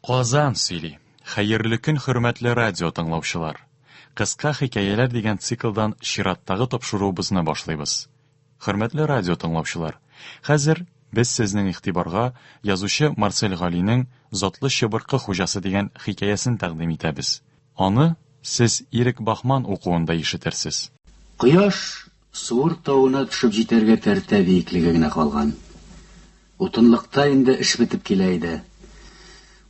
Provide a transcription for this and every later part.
Казан сөйли. Хәерле көн хөрмәтле радио тыңлаучылар. Кыска хикәяләр дигән циклдан чираттагы тапшыруыбызны башлыйбыз. Хөрмәтле радио тыңлаучылар, хәзер без сезнең игътибарга язучы Марсель Галинең Затлы чыбыркы хуҗасы дигән хикәясен тәкъдим итәбез. Аны сез Ирек Бахман укуында ишетерсез. Кояш Суыр тавына төшеп җитәргә тәртә биеклеге генә калган. Утынлыкта инде эш бетеп килә иде.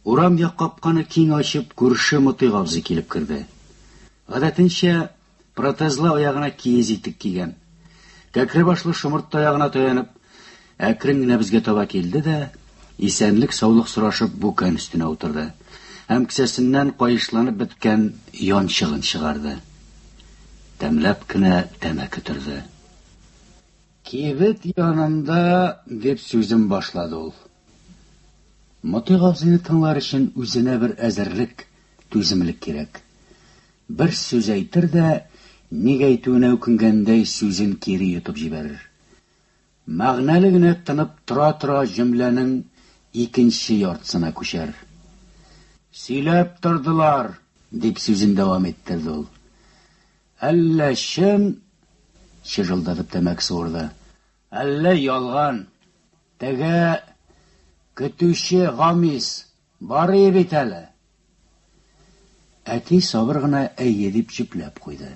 Урам як капканы киң ачып, күрше Мотыйк абзый килеп керде. Гадәтенчә, протезлы аягына киез итек кигән. Кәкре башлы шомырт таягына таянып, Әкрен генә безгә таба килде дә, исәнлек-саулык сорашып бүкән өстенә утырды һәм кесәсеннән каешланып беткән янчыгын чыгарды. Тәмләп кенә тәмәке төрде. Кибет янында, дип сүзен башлады ул. Мотыйк абзыйны тыңлар өчен үзенә бер әзерлек, түземлек кирәк. Бер сүз әйтер дә, ник әйтүенә үкенгәндәй, сүзен кире йотып җибәрер. Мәгънәле генә тынып тора-тора җөмләнең икенче яртысына күчәр. Сөйләп тордылар, дип сүзен дәвам иттерде ул. Әллә чын, чыжылдатып тәмәке суырды, әллә ялган. Теге, көтүче Гамис, Барый бит әле. Әти сабыр гына әйе дип җөпләп куйды.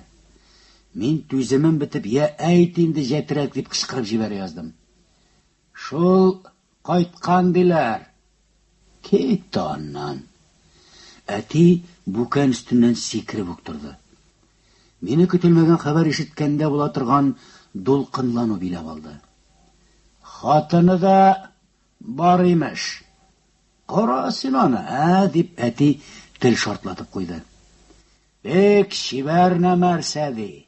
Мин түземем бетеп, я әйт инде җәтрәк дип кычкырып җибәрә яздым. Шул кайткан диләр. Кит тә аннан. Әти бүкән өстеннән сикереп үк торды. Мине көтелмәгән хәбәр ишеткәндә була торган дулкынлану биләп алды. Хатыны да бар имеш. Кара син аны, ә, дип әти тел шартлатып куйды. Бик чибәр нәрсә ди.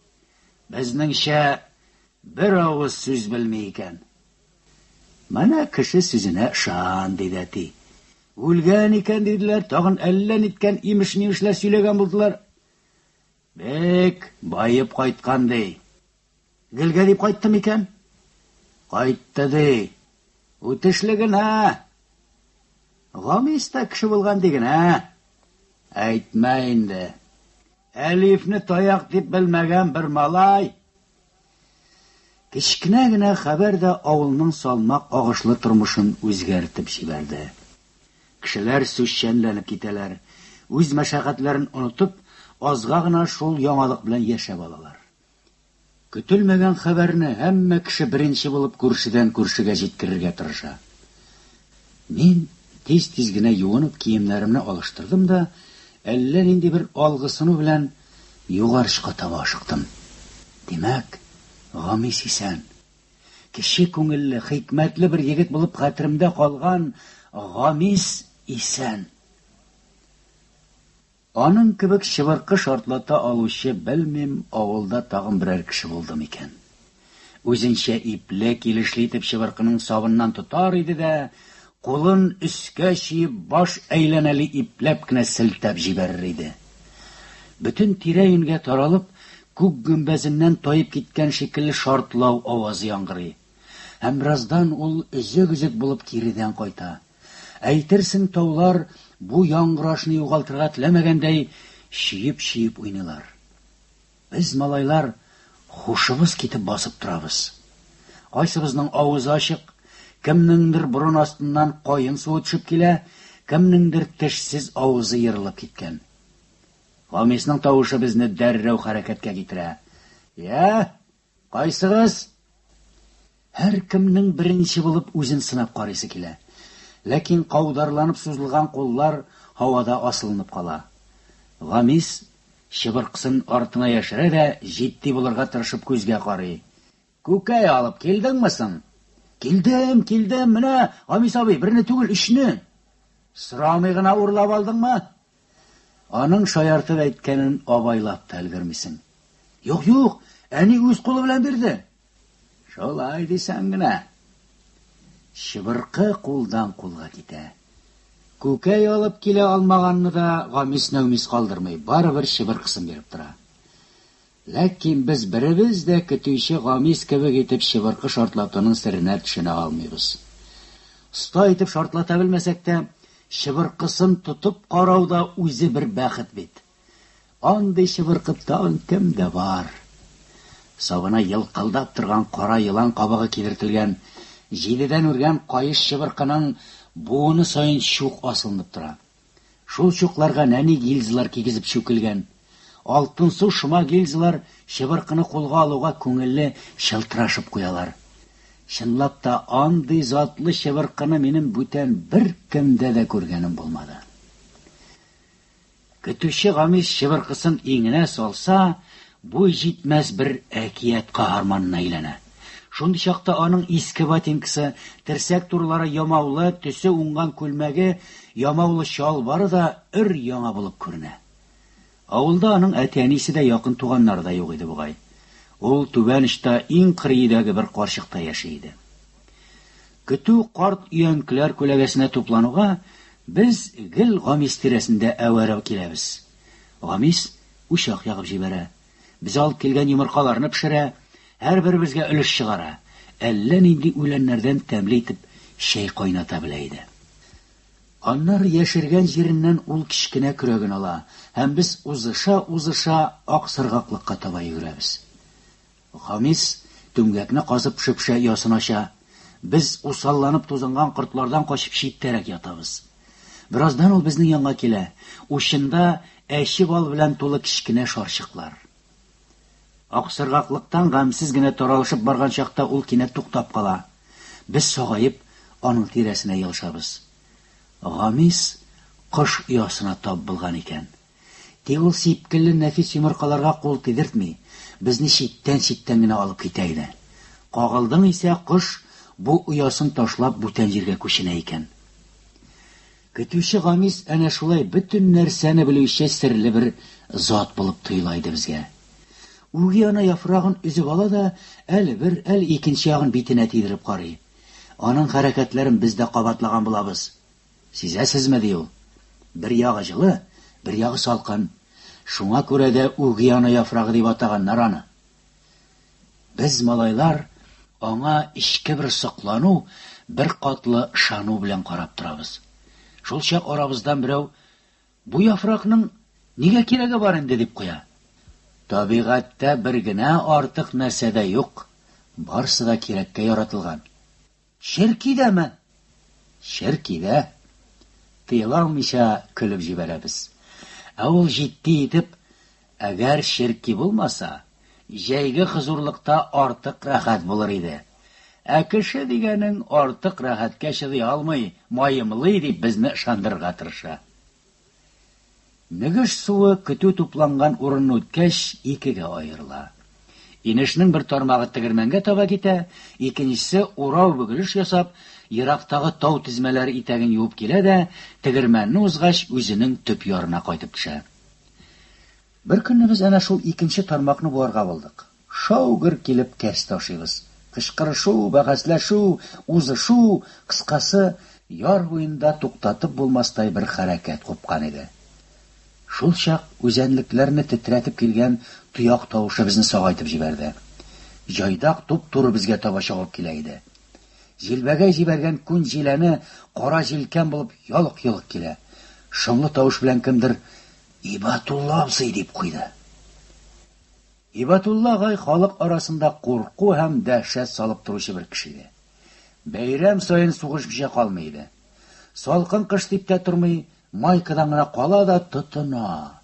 Безнеңчә бер авыз сүз белми икән. Менә кеше сүзенә шан, диде әти. Үлгән икән диделәр, тагын әллә ниткән имеш-мимешләр сөйләгән булдылар. Бик баеп кайткан ди. Гелгә дип кайтты микән? Кайтты ди. Үтешле генә. Гамис та кеше булган ди генә. Әйтмә инде. Әлифне таяк дип белмәгән бер малай. Кечкенә генә хәбәр дә авылның салмак агышлы тормышын үзгәртеп җибәрде. Кешеләр сүзчәнләнеп китәләр, үз мәшәкатьләрен онытып, азга гына шул яңалык белән яшәп алалар. Көтелмәгән хәбәрне һәммә кеше беренче булып күршедән-күршегә җиткерергә тырыша. Мин тиз-тиз генә юынып киемнәремне алыштырдым да, әллә нинди бер алгысыну белән югарчка таба ашыктым. Димәк, Гамис исән! Кече күңелле, хикмәтле бер егет булып хәтеремдә калган Гамис исән! Аның кебек чыбыркы шартлата алучы, белмим, авылда тагын берәр кеше булды микән. Үзенчә ипле, килешле итеп чыбыркының сабыннан тотар иде дә, кулын өскә чөеп, баш әйләнәли ипләп кенә селтәп җибәрер иде. Бөтен тирә-юньгә таралып, күк гөмбәзеннән таеп киткән шикелле шартлау авазы яңгырый. Һәм бераздан ул өзек-өзек булып киредән кайта. Әйтерсең, таулар бу яңгырашны югалтырга теләмәгәндәй, чиеп-чиеп уйныйлар. Без, малайлар, хушыбыз китеп басып торабыз. Кайсыбызның авызы ачык, кемнеңдер борын астыннан каен суы төшеп килә, кемнеңдер тешсез авызы ерылып киткән. Фамисның тавышы безне дәррәү хәрәкәткә китерә. Я, Кайсыгыз? Һәркемнең беренче булып үзен сынап карыйсы килә. Ләкин каударланып сузылган куллар һавада асылынып кала. Гамис чыбыркысын артына яшерә дә җитди булырга тырышып күзгә карый. Күкәй алып килдеңме соң? Килдем, килдем, менә, Гамис абый, берне түгел, өчне! Сорамый гына урлап алдыңмы? Аның шаяртып әйткәнен абайлап та өлгермисең. Юк, юк, әни үз кулы белән бирде. Шулай дисәң генә. Чыбыркы кулдан кулга китә. Күкәй алып килә алмаганны да Гамис-Нәүмис калдырмый, барыбер чыбыркысын биреп тора. Ләкин без беребез дә көтүче гамис кебек итеп чыбыркы шартлатуның серенә төшенә алмыйбыз. Оста итеп шартлата белмәсәк тә, чыбыркысын тотып карау да үзе бер бәхет бит. Андый чыбыркы тагын кемдә бар? Сабына елкылдап торган кара елан кабыгы кидертелгән, җидедән үргән каеш чыбыркының буыны саен чук асылынып тора. Шул чукларга нәни гильзалар кигезеп чүкелгән. Алтынсу шома гильзалар чыбыркыны кулга алуга күңелле чылтырашып куялар. Чынлап та, андый затлы чыбыркыны минем бүтән беркемдә дә күргәнем булмады. Көтүче Гамис чыбыркысын иңенә салса, Буй җитмәс бер әкият каһарманына әйләнә. Шундый чакта аның иске ботинкасы, терсәк турылары ямаулы, төсе уңган күлмәге, ямаулы чалбары да өр-яңа булып күренә. Авылда аның әти-әнисе дә, якын туганнары да юк иде бугай. Ул түбән очта иң кырый өйдәге бер карчыкта яши иде. Көтү карт өянкеләр күләгәсенә туплануга, без гел Гамис тирәсендә әвәрә киләбез. Гамис учак ягып җибәрә. Без алып килгән йомыркаларны пешерә, һәрберебезгә өлеш чыгара. Әллә нинди үләннәрдән тәмле итеп чәй кайната белә иде. Аннары яшергән җиреннән ул кечкенә көрәген ала һәм без узыша-узыша Аксыргаклыкка таба йөгерәбез. Хамис, түмгәкне казып, шөпшә оясын ача. Без, усалланып тузынган кортлардан качып, читтәрәк ятабыз. Бераздан ул безнең янга килә, учында әче бал белән тулы кечкенә шарчыклар. Аксыргаклыктан гамьсез генә таралышып барган чакта ул кинәт туктап кала. Без сагаеп, аның тирәсенә елышабыз. Гамис кош оясына тап булган икән. Тик ул сипкелле нәфис йомыркаларга кул тидертми, безне читтән-читтән генә алып китә иде. Кагылдың исә, кош бу оясын ташлап бүтән җиргә күченә икән. Көтүче Гамис әнә шулай бөтен нәрсәне белүче серле бер зат булып тоела иде безгә. Үги ана яфрагын өзеп ала да, әле бер, әле икенче ягын битенә тидереп карый. Аның хәрәкәтләрен без дә кабатлаган булабыз. Сизәсезме, ди ул. Бер ягы җылы, бер ягы салкын. Шуңа күрә дә үгеана яфрагы дип атаганнар аны. Без, малайлар, аңа эчке бер соклану, бер катлы ышану белән карап торабыз. Шул чак арабыздан берәү, Бу яфракның нигә кирәге бар инде, дип куя. Табигатьтә бер генә артык нәрсә дә юк, барсы да кирәккә яратылган. Черки дәме! Черки дә! Тыела алмыйча көлеп җибәрәбез. Ә ул җитди итеп, Әгәр черки булмаса, җәйге хозурлыкта артык рәхәт булыр иде. Ә кеше дигәнең артык рәхәткә чыдый алмый, маемлый, дип безне ышандырырга тырыша. Мөгеш суы көтү тупланган урынны үткәч, икегә аерыла. Инешнең бер тармагы тегермәнгә таба китә, икенчесе, урау-бөгелеш ясап, ерактагы тау тезмәләре итәген юып килә дә, тегермәнне узгач, үзенең төп ярына кайтып төшә. Беркөнне без әнә шул икенче тармакны буарга булдык. Шау-гөр килеп кәс ташыйбыз. Кычкырышу, бәхәсләшү, узышу, кыскасы, яр буенда туктатып булмастай бер хәрәкәт купкан иде. Шулчак үзәнлекләрне тетрәтеп килгән тояк тавышы безне сагайтып җибәрде. Җайдак туп-туры безгә таба чабып килә иде. Җилбәгәй җибәргән күн җиләне кара җилкән булып ялык-йолык килә. Шомлы тавыш белән кемдер, Ибатулла абзый! дип куйды. Һибәтулла агай халык арасында курку һәм дәһшәт салып торучы бер кеше иде. Бәйрәм саен сугыш кичә калмый иде. Салкын кыш дип тә тормый, майкадан гына кала да тотына.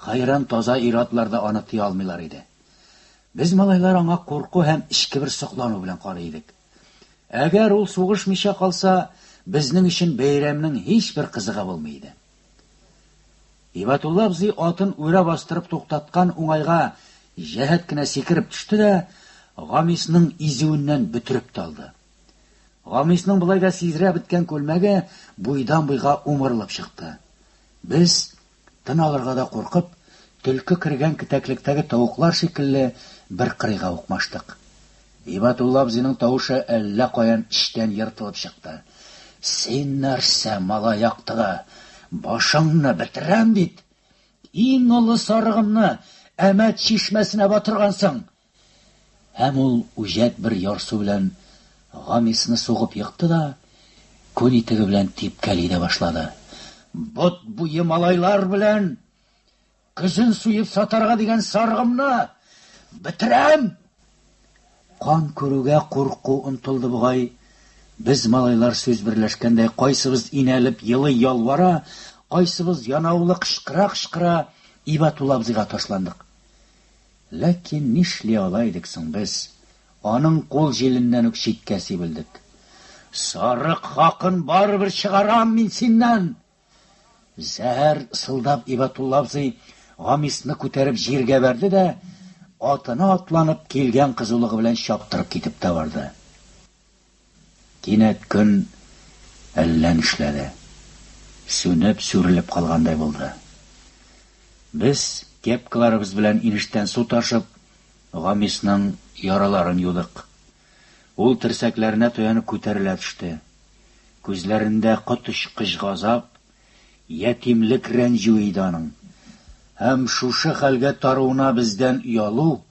Хәйран таза ир-атлар да аны тыя алмыйлар иде. Без малайлар аңа курку һәм эчке бер соклану белән карый идек. Әгәр ул сугышмыйча калса, безнең өчен бәйрәмнең һичбер кызыгы булмый иде. Ибатулла абзый атын үрә бастырып туктаткан уңайга җәһәт кенә сикереп төште дә, Гамисның изүеннән бөтереп талды. Гамисның болай да сизрә беткән күлмәге буйдан-буйга умырылып чыкты. Без, тын алырга да куркып, төлке кергән кетәклектәге тавыклар шикелле бер кырыйга укмаштык. Һибатулла абзыйның тавышы әллә каян эчтән ертылып чыкты. Син нәрсә, малай яктыга, башыңны бетерәм бит! Иң олы сарыгымны Әмәт чишмәсенә батыргансың! Һәм ул үҗәт бер ярсу белән Гамисны сугып екты да, күн итеге белән типкәли дә башлады. Бот буе малайлар белән Көзен суеп сатарга дигән сарыгымны бетерәм! Кан күрүгә курку онтылды бугай. Без, малайлар сүз берләшкәндәй, кайсыбыз инәлеп елый-ялвара, кайсыбыз янаулы кычкыра-кычкыра Ибатулла абзыйга ташландык. Ләкин нишли ала идек соң без? Аның кул җиленнән үк читкә сибелдек. Сарык хакын барыбер чыгарам мин синнән! Зәһәр сылдап Ибатулла абзый Гамисны күтәреп җиргә бәрде дә, атына атланып килгән кызулыгы белән чаптырып китеп тә барды. Кинәт көн әллә нишләде. Сүнеп, сүрелеп калгандай булды. Без, кепкаларыбыз белән инештән су ташып, Гамисның яраларын юдык. Ул терсәкләренә таянып күтәрелә төште. Күзләрендә коточкыч газап, ятимлек рәнҗүе иде аның. Һәм шушы хәлгә таруына бездән оялу,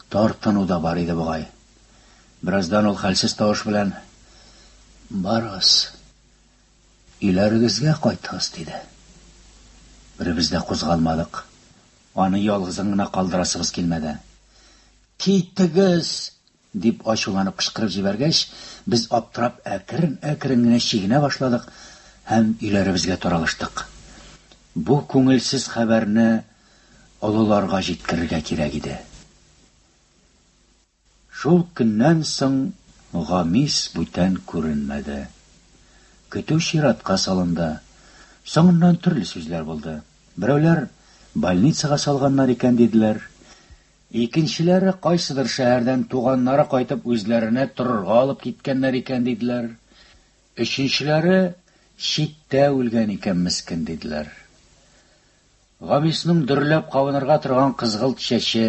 тартыну да бар иде бугай. Бераздан ул хәлсез тавыш белән, Барыгыз, өйләрегезгә кайтыгыз, диде. Беребез дә кузгалмадык. Аны ялгызын гына калдырасыбыз килмәде. Китегез! дип ачуланып кычкырып җибәргәч, без аптырап әкрен-әкрен генә чигенә башладык һәм өйләребезгә таралыштык. Бу күңелсез хәбәрне олыларга җиткерергә кирәк иде. Шул көннән соң Гамис бүтән күренмәде. Көтү чиратка салынды. Соңыннан төрле сүзләр булды. Берәүләр, Больницага салганнар икән, диделәр. Икенчеләре кайсыдыр шәһәрдән туганнары кайтып үзләренә торырга алып киткәннәр икән диделәр. Өченчеләре читтә үлгән икән мескен диделәр. Гамисның дөрләп кабынырга торган кызгылт чәче,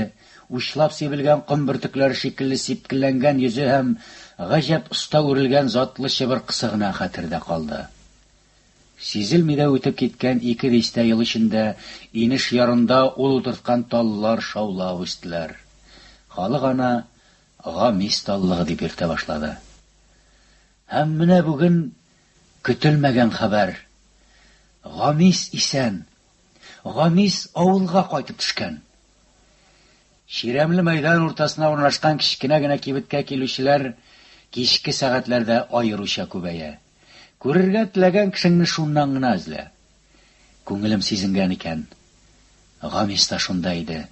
учлап сибелгән ком бөртекләре шикелле сипкелләнгән йөзе һәм гаҗәп оста үрелгән затлы чыбыркысы гына хәтердә калды. Сизелми дә үтеп киткән ике дистә ел эчендә инеш ярында ул утырткан таллар шаулап үстеләр. Халык аны Гамис таллыгы дип йөртә башлады. Һәм менә бүген көтелмәгән хәбәр, Гамис исән! Гамис авылга кайтып төшкән! Чирәмле мәйдан уртасына урнашкан кечкенә генә кибеткә килүчеләр кичке сәгатьләрдә аеруча күбәя. Күрергә теләгән кешеңне шуннан гына эзлә. Күңелем сизенгән икән. Гамис та шунда иде.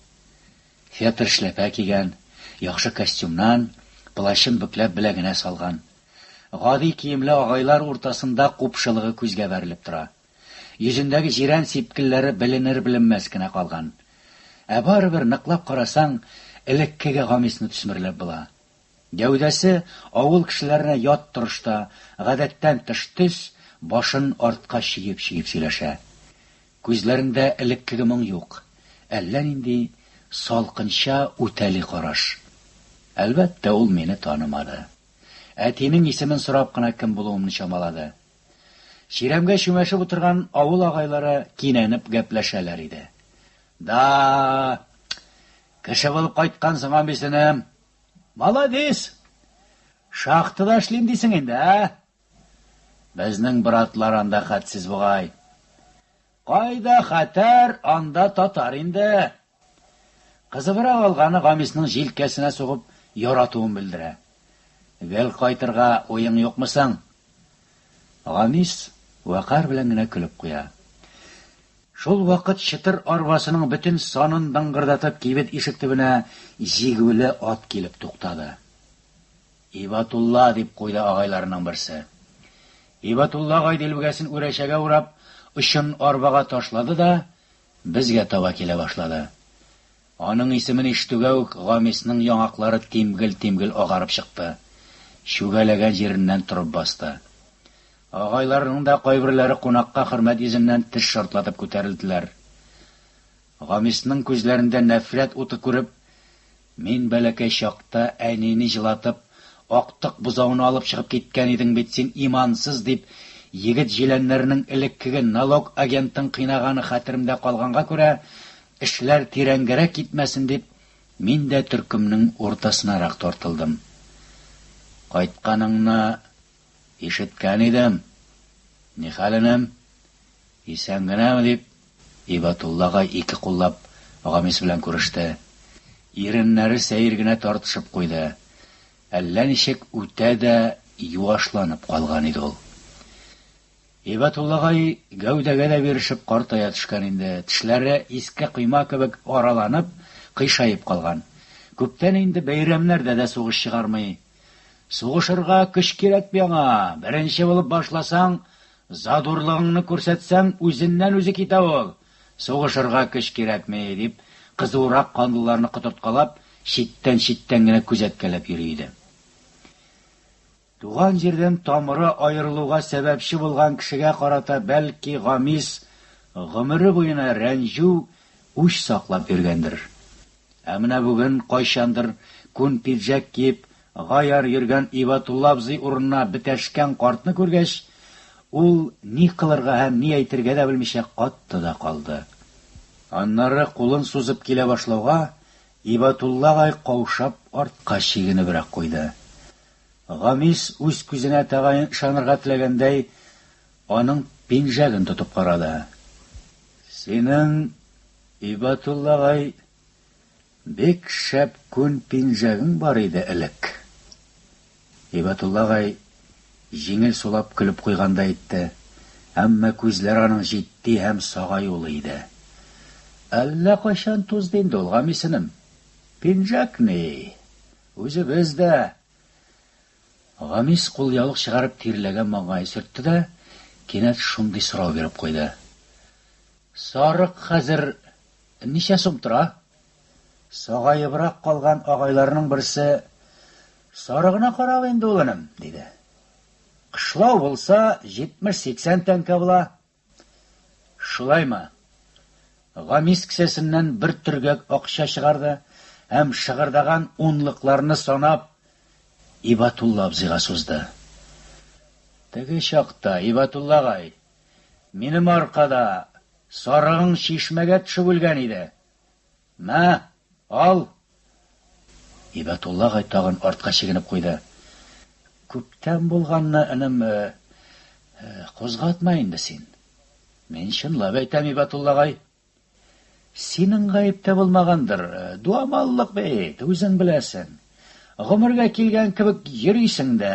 Фетр эшләпә кигән, яхшы костюмнан, плащын бөкләп беләгенә салган. Гади киемле агайлар уртасында купшылыгы күзгә бәрелеп тора. Йөзендәге җирән сипкелләре беленер-беленмәс кенә калган. Ә барыбер, ныклап карасаң, элеккеге Гамисны төсмерләп була. Гәүдәсе авыл кешеләренә ят торышта, гадәттән тыш төс, башын артка чөеп-чөеп сөйләшә. Күзләрендә элеккеге моң юк, әллә нинди салкынча үтәли караш. Әлбәттә, ул мине танымады. Әтинең исемен сорап кына кем булуымны чамалады. Чирәмгә чүмәшеп утырган авыл агайлары кинәнеп гәпләшәләр иде. Да-а-а! Кеше булып кайткансың, абыйсыным! Молодец! Шахтада эшлим дисең инде, ә? Безнең братлар анда хәтсез бугай. Кайда хәтәр, анда татар инде. Кызыбрак алганы Гамисның җилкәсенә сугып яратуын белдерә. Гел кайтырга уең юкмы соң? Гамис вәкарь белән генә көлеп куя. Шул вакыт чытыр арбасының бөтен санын дыңгырдатып кибет ишек төбенә җигүле ат килеп туктады. Ибатулла, дип куйды агайларының берсе. Ибатулла агай дилбегәсен үрәчәгә урап, очын арбага ташлады да, безгә таба килә башлады. Аның исемен ишетүгә үк Гамисның яңаклары тимгел-тимгел агарып чыкты, чүгәләгән җиреннән торып басты. Агайларының да кайберләре кунакка хөрмәт йөзеннән теш шартлатып күтәрелделәр. Гамисның күзләрендә нәфрәт уты күреп, Мин бәләкәй чакта әнине җылатып, актык бозауны алып чыгып киткән идең бит син, имансыз, дип, егет җиләннәренең элеккеге налог агентын кыйнаганы хәтеремдә калганга күрә, Эшләр тирәнгәрәк китмәсен дип, мин дә төркемнең уртасынарак тартылдым. Кайтканыңны ишеткән идем. Ни хәл, энем? Исән генәме? дип, Һибәтулла агай ике куллап Гамис белән күреште. Иреннәре сәер генә тартышып куйды. Әллә ничек үтә дә юашланып калган иде ул. Һибәтуллагай гәүдәгә дә бирешеп картая төшкән инде, тешләре иске койма кебек араланып, кыйшаеп калган. Күптән инде бәйрәмнәрдә дә сугыш чыгармый. Сугышырга көч кирәк бит аңа, беренче булып башласаң, задурлыгыңны күрсәтсәң, үзеннән-үзе китә ул. Сугышырга көч кирәкми, дип, кызуырак канлыларны котырткалап, читтән-читтән генә күзәткәләп йөри иде. Туган җирдән тамыры аерылуга сәбәпче булган кешегә карата бәлки Гамис гомере буена рәнҗү, үч саклап йөргәндер. Ә менә бүген кайчандыр күн пиджәк киеп, гаяр йөргән Ибатулла абзый урынына бетәшкән картны күргәч, ул ни кылырга һәм ни әйтергә дә белмичә катты да калды. Аннары кулын сузып килә башлауга, Ибатулла агай каушап артка чигенебрәк куйды. Гамис, үз күзенә тәгаен ышанырга теләгәндәй, аның пинжәген тотып карады. Синең, Ибатуллагай, бик шәп күн пинжәгең бар иде элек. Ибатуллагай җиңел сулап көлеп куйгандай итте, әмма күзләр аның җитди һәм сагаюлы иде. Әллә кайчан тузды инде ул, Гамисенем. Пинжәк ни, Үзебез дә! Гамис кулъяулык чыгарып тирләгән маңгаен сөртте дә, кинәт шундый сорау биреп куйды. Сарык хәзер ничә сум тора? Сагаебрак калган агайларның берсе, Сарыгына карап инде, улыным, диде. Кышлау булса, җитмеш-сиксән тәңкә була, Шулаймы? Гамис кесәсеннән бер төргәк акча чыгарды һәм шыгырдаган унлыкларны санап Ибатулла абзыйга сузды. Теге чакта, Ибатулла агай, минем аркада сарыгың чишмәгә төшеп үлгән иде. На, ал! Һибәтулла агай тагын артка чигенеп куйды. Күптән булганны, энем, кузгатма инде син. Мин чынлап әйтәм, Һибәтулла агай. Синең гаеп тә булмагандыр, дуамаллык бит, үзең беләсең. Гомергә килгән кебек йөрисең дә.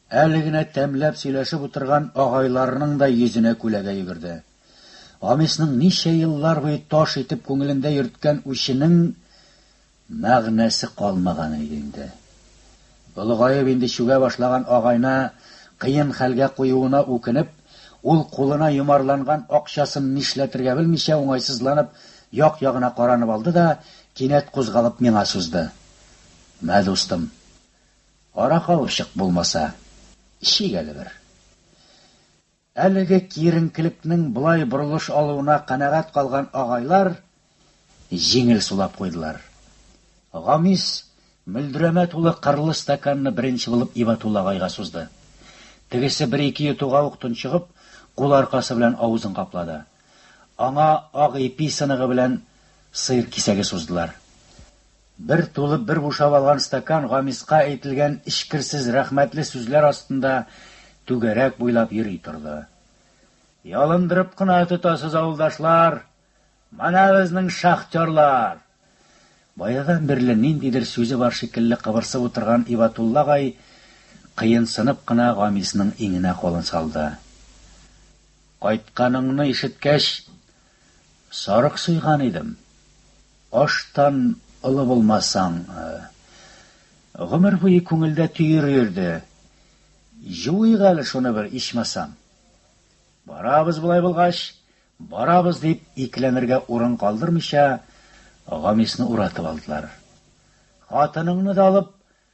Әле генә тәмләп сөйләшеп утырган агайларының да йөзенә күләгә йөгерде. Амисның ничә еллар буе таш итеп күңелендә йөрткән үченең мәгънәсе калмаган иде инде. Олыгаеп инде чүгә башлаган агайны кыен хәлгә куюына үкенеп, ул кулына йомарланган акчасын нишләтергә белмичә уңайсызланып як-ягына каранып алды да, кинәт кузгалып миңа сузды. Мә, дустым. Аракалышык булмаса, эчик әле бер. Әлеге киеренкелекнең болай борылыш алуына канәгать калган агайлар җиңел сулап куйдылар. Гамис мөлдерәмә тулы кырлы стаканны беренче булып Ибатулла агайга сузды. Тегесе бер-ике йотуга ук тончыгып, кул аркасы белән авызын каплады. Аңа ак ипи сыныгы белән сыер кисәге суздылар. Бер тулып, бер бушап алган стакан Гамиска әйтелгән эчкерсез рәхмәтле сүзләр астында түгәрәк буйлап йөри торды. Ялындырып кына тотасыз, авылдашлар! Менә безнең шахтерлар! Баядан бирле ниндидер сүзе бар шикелле кыбырсып утырган Ибатулла агай кыенсынып кына Гамисның иңенә кулын салды. Кайтканыңны ишеткәч, сарык суйган идем. Аштан олы булмасаң. Гомер буе күңелдә төер йөрде. Җуыйк әле шуны бер, ичмасам. Барабыз болай булгач, барабыз, дип, икеләнергә урын калдырмыйча, Гамисны уратып алдылар. Хатыныңны да алып,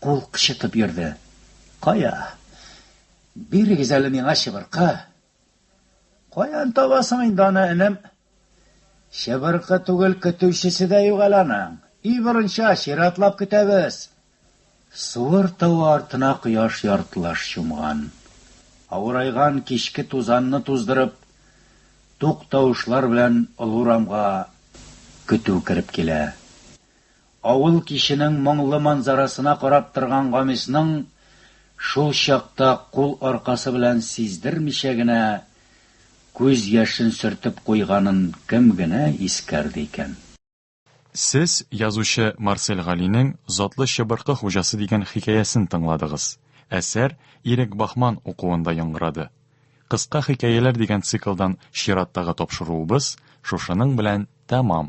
Кул кычытып йөрде. Кая? Бирегез әле миңа чыбыркы! Каян табасың инде аны, энем? Чыбыркы түгел, көтүчесе дә юк әле аның. И борынча, чиратлап көтәбез! Суыр тавы артына кояш яртылаш чумган. Авырайган кичке тузанны туздырып, тук тавышлар белән олы урамга көтү кереп килә. Авыл киченең моңлы манзарасына карап торган Гамисның шул чакта кул аркасы белән сиздермичә генә күз яшен сөртеп куйганын кем генә искәрде икән? Сез язучы Марсель Галинең Затлы чыбыркы хуҗасы дигән хикәясен тыңладыгыз. Әсәр Ирек Бахман укуында яңгырады. Кыска хикәяләр дигән циклдан чираттагы тапшыруыбыз шушының белән тәмам.